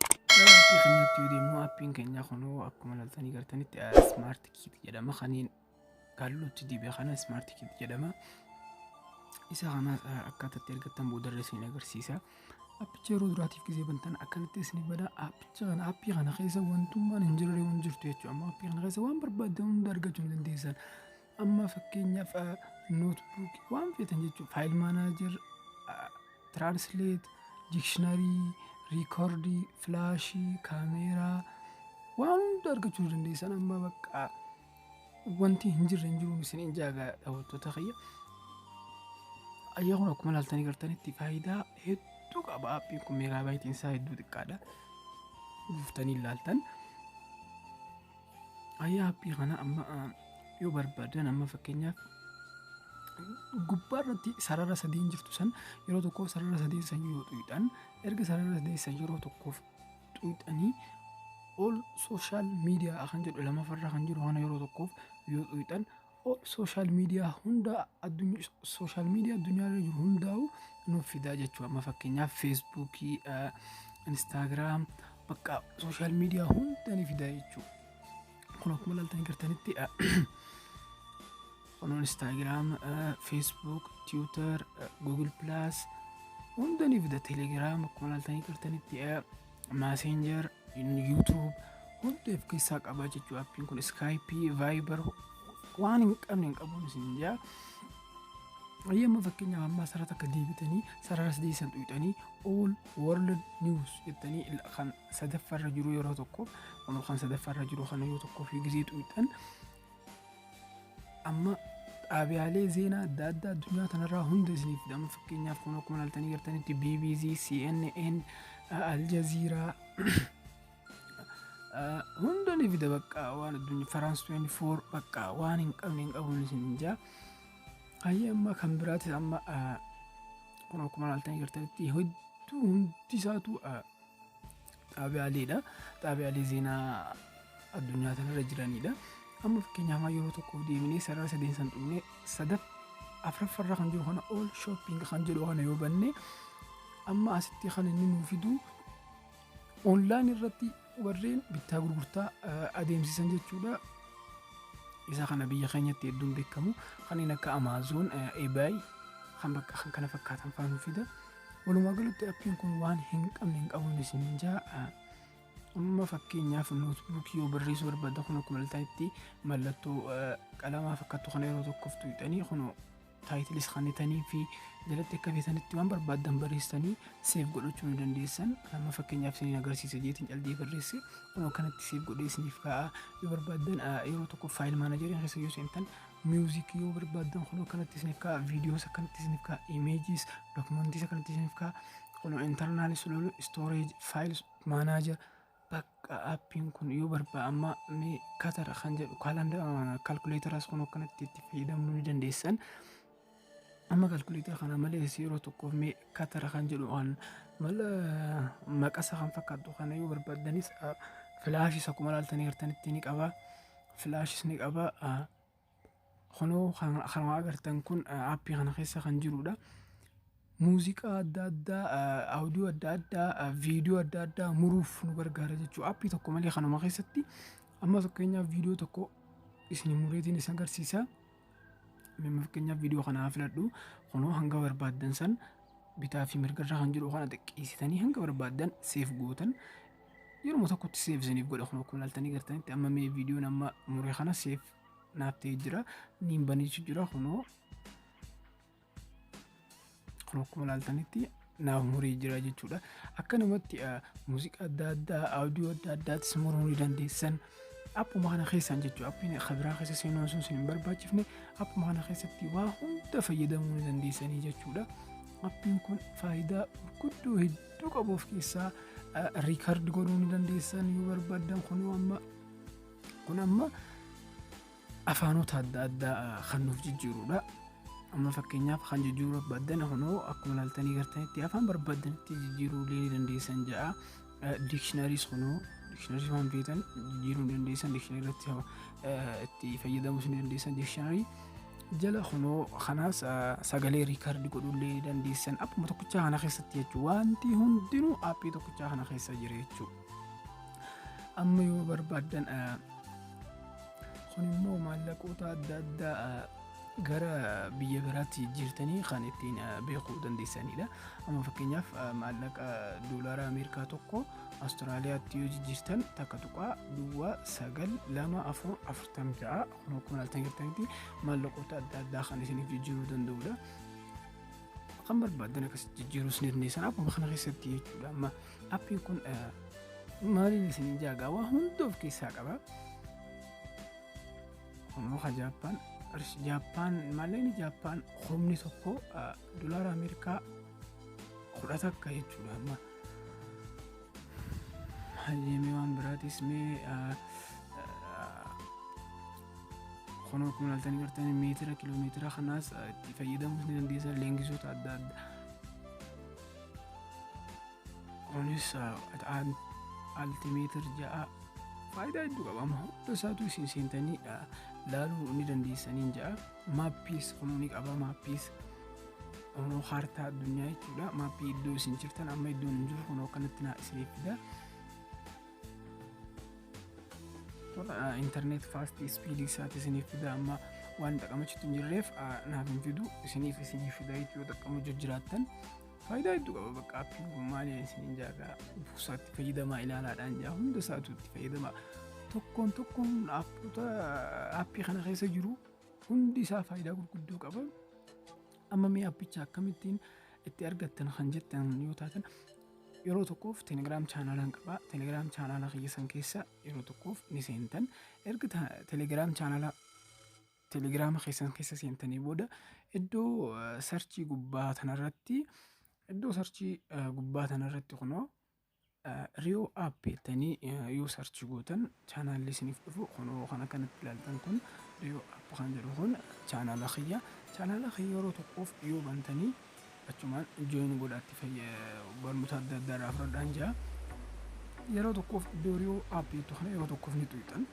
Gara appii keenyaatti yoo deemnu appiin keenya kunoo akkuma laltanii gartanitti smart kit jedhama kaniin kalluutti dibe kana smart kit jedhama. Isa kana akkaataa itti argattan boodarra isin agarsiisa. Appicha yeroo duraatiif gisee bantan akkanatti isin bada appicha kana appii kana keessa wantummaan hin jirre hin jirtu jechuudha. Amma appii kana keessa waan barbaaddan hunda argachuu hin dandeessan. Amma fakkeenyaaf nootbuukii waan feetan jechuudha. Faayil maanaajer, tiraansleet, diikshinarii, riikoordii, filaashii, kaameeraa waan hunda argachuu ni dandeessan amma bakka wanti hin jirre hin jiruun isin hin jaaga daawwattoota kiyya. Ayyaa kun akkuma ilaaltanii gartanitti faayidaa hedduu qaba. Appiin kun meegaa baayitiin isaa hedduu xiqqaadha. Buuftanii ilaaltan. Ayyaa appii kana amma ah, yoo barbaadan amma fakkeenyaaf gubbaa irratti sarara sadiin jirtu san yeroo tokkoof sarara sadiin san yoo xuyxan erga sarara sadiin san yeroo tokkoof xuyxanii ol sooshaal miidiyaa kan jedhu lamafarra kan jiru kana yeroo tokkoof yoo xuyxan Social media hunda social media addunyaa irra jiru hundaa'u nuuf fidaa jechuu amma fakkeenyaaf Facebook, Instagram bakka social media hunda ni fidaa jechuu. Kun akkuma ilaaltanii gartanitti kun Instagram, Facebook, Twitter, Google Plus hunda ni fida Telegram akkuma ilaaltanii gartanitti Messenger, YouTube hunda of keessaa qaba jechuudha. Appiin kun Skype, Viber waan hin qabne hin qabu isin jaa. Yemma fakkeenyaaf ammaa sarara takka deebitanii sarara sadii san tuqxanii all world news jettanii ila- kan sadaffarra jiru yeroo tokko kan sadaffarra jiru kana yoo tokko fi gizee tuqxan Amma dhaabiyaalee zeenaa adda addaa addunyaa kanarraa hunda isiniif fidama. Fakkeenyaaf kun akkuma ilaaltanii jirtanitti BBC, CNN, Al Jazeera hunda ni fida bakka waan addunyaa Faraans 24 bakka waan hin qabne hin qabuun isin jaa. Hayyee amma kan biraatis amma kun akkuma ilaaltanii jirtanitti hedduu hundi isaatu Xaabiyaa Aliidha. Xaabiyaa Alii Zeenaa addunyaa kanarra jiranidha. Amma fakkeenyaaf yeroo tokkoof deemnee sarara sadeen san dhumne sadaf afraffarra kan jiru kana all shopping kan jedhu kana yoo banne amma asitti kan inni nuu fidu online irratti warreen bittaa gurgurtaa adeemsisan jechuudha. Isa kana biyya keenyatti hedduun beekamu kanneen akka Amazon, eBay kan bakka kan kana fakkaatan fa'aa nuu fida. Walumaa galatti appiin kun waan hin qabne hin qabuun isin ja'a. Amma fakkeenyaaf nootbuukii yoo barreessuu barbaadda kun akkuma ilaaltanitti mallattoo qalamaa fakkattu kana yeroo tokkoof tuqxanii kun taayitilis kannitanii fi jalatti akka feetanitti waan barbaaddan barreessanii seef godhachuu ni dandeessan. Amma fakkeenyaaf isiniin agarsiisa jeetiin caldee barreesse kun akkanatti seef godhee isiniif kaa'a. Yoo barbaaddan yeroo tokko faayil maanajarii keessa yoo seentan Music yoo barbaaddan kunoo kanatti isiniif ka'a. Videos akkanatti isiniif ka'a. Images, documents akkanatti isiniif ka'a. Kunoo internal sululu, storage, files, manager. Bakka appiin kun yoo barbaa amma mee katara kan jedhu calculator as kunoo kanatti itti fayyadamuu ni dandeessan. Amma kalkuleetara kana malees yeroo tokkoof mee katara kan jedhu kan mala maqasa kan fakkaatu kana yoo barbaaddanis filaashis akkuma ilaaltanii agartanitti ni qaba. Filaashis ni qaba. Kunoo kan agartan kun aappii kana keessa kan jirudha. Muuziqaa adda addaa, audio adda addaa, viidiyoo adda addaa muruuf nu gargaara jechuudha. Aappii tokko malee kanuma keessatti amma fakkeenyaaf viidiyoo tokko isin mureetiin isin agarsiisa. Amma fakkeenyaaf viidiyoo kana haa filadhu. Kunoo hanga barbaaddan san bitaa fi mirga irra kan jiru kana xiqqeessitanii hanga barbaaddan seef gootan. Yeruma tokkotti seef isiniif godha kun akkuma ilaaltanii gartanitti amma mee viidiyoon amma mure kana seef naaf ta'ee jira. Niin baniichu jira kunoo Kun akkuma ilaaltanitti naaf muree jira jechuudha. Akkanumatti muuziqaa adda addaa, audio adda addaattis muruu ni dandeessan. Appuma kana keessaan jechuudha. Appiin kabiraa keessa seenuun sun hin barbaachifne appuma kana keessatti waa hunda fayyadamuu ni dandeessanii jechuudha. Appiin kun faayidaa gurguddoo hedduu qabu of keessaa riikardi godhuu ni dandeessan yoo barbaadan kun amma kun amma afaanota adda addaa kan nuuf jijjiirudha. Amma fakkeenyaaf kan jijjiiruu barbaadan kunoo akkuma ilaaltanii gartanitti afaan barbaadanitti jijjiiruu illee ni dandeessan ja'a. Diikshinaariis kunoo diikshinarii waan feetan jijjiiruu ni dandeessan diikshinarii irratti itti fayyadamuus ni dandeessan diikshinarii jala kunoo kanaas sagalee riikardi godhuu illee ni dandeessan appuma tokkichaa kana keessatti jechuudha. Wanti hundinuu appii tokkichaa kana keessa jira jechuudha. Amma yoo barbaadan Kun immoo maallaqoota adda addaa gara biyya biraatti jijjiirtanii kan ittiin beekuu dandeessanidha. Amma fakkeenyaaf maallaqa doolaara Ameerikaa tokko Awustiraaliyaatti yoo jijjiirtan takka tuqaa duwwaa sagal lama afur afurtam ja'a kun akkuma ilaaltan jirtanitti maallaqoota adda addaa kan isiniif jijjiiruu danda'udha. Kan barbaadan akkasitti jijjiiruus ni dandeessan akkuma kana keessatti jechuudha. Amma Appiin kun maaliin isin jaagaa waa hunda of keessaa qaba. Kunoo ka Jaappaan Jaappaan malleen Jaappaan humni tokko dolaara Ameerikaa kudha takka jechuudha amma. Hayyamee waan biraatis mee kunoo kun haltanii jirtanii meetira kiiloomeetira kanaas itti fayyadamuus ni dandeessan leengisoota adda addaa. Kunis qaxaan altimeetir ja'a faayidaa hedduu qaba. Amma hunda isaatu isin seentanii laaluu ni dandeessaniin ja'a. Maappiis kunuu ni qaba maappiis. Kunuu kaartaa addunyaa jechuudha. Maappii iddoo isin jirtan amma iddoon hin jiru kunuu akkanatti naa isiniif fida. internet fast speed isaati isiniif fida amma waan xaqamachitti hin jirreef naaf hin fidu isiniif isiniif fida yoo xaqamu jijjiraattan faayidaa hedduu qaba bakka appiin kun maali isiniin jaagaa ufuusaatti fayyadamaa ilaalaadhaan jaa hunda isaatu itti fayyadama tokkoon tokkoon appota appii kana keessa jiru hundi isaa faayidaa gurguddoo qaba amma mee appicha akkamittiin itti argattan kan jettan yoo taatan yeroo tokkoof telegram chaanaalaan qaba telegram chaanaalaa kiyya san keessa yeroo tokkoof ni seentan erga ta- telegram chaanaalaa telegiraama keessan keessa seentanii booda iddoo eh, sarchii gubbaa tanarratti iddoo sarchii eh, gubbaa tanarratti kunoo riyoo app jettanii eh, yoo sarchii gootan chaanaalli isiniif dhufu kunoo kan akkanatti ilaaltan kun riyoo app kan jedhu kun chaanaala kiyya chaanaala kiyya yeroo tokkoof yoo bantanii Achumaan join godhaa itti fayyadamaa barnoota adda addaa irraa fudhadhaan jira. Yeroo tokkoof dooriyoo app jettu kana yeroo tokkoof ni tuqxan.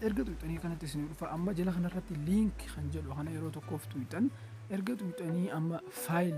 Erga tuqxanii kanatti isin dhufa amma jala kanarratti link kan jedhu kana yeroo tokkoof tuqxan erga tuqxanii amma faayil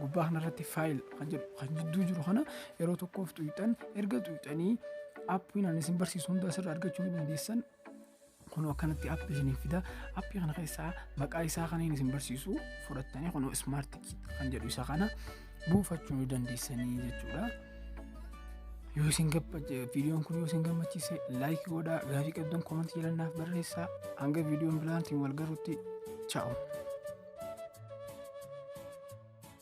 gubbaa kanarratti faayil kan jedhu kan jidduu jiru kana yeroo tokkoof tuqxan erga tuqxanii appiin ani isin barsiisu hunda asirra argachuu ni dandeessan Kun akkanatti app isiniif fida. Appii kana keessaa maqaa isaa kan inni isin barsiisu fudhattanii kun smart kit kan jedhu isa kana buufachuu ni dandeessanii jechuudha. Yoo isin viidiyoon kun yoo isin gammachiise laayik godhaa gaaffii qabdan koomantii jalannaaf barreessaa hanga viidiyoon biraatiin wal garutti chaa'u.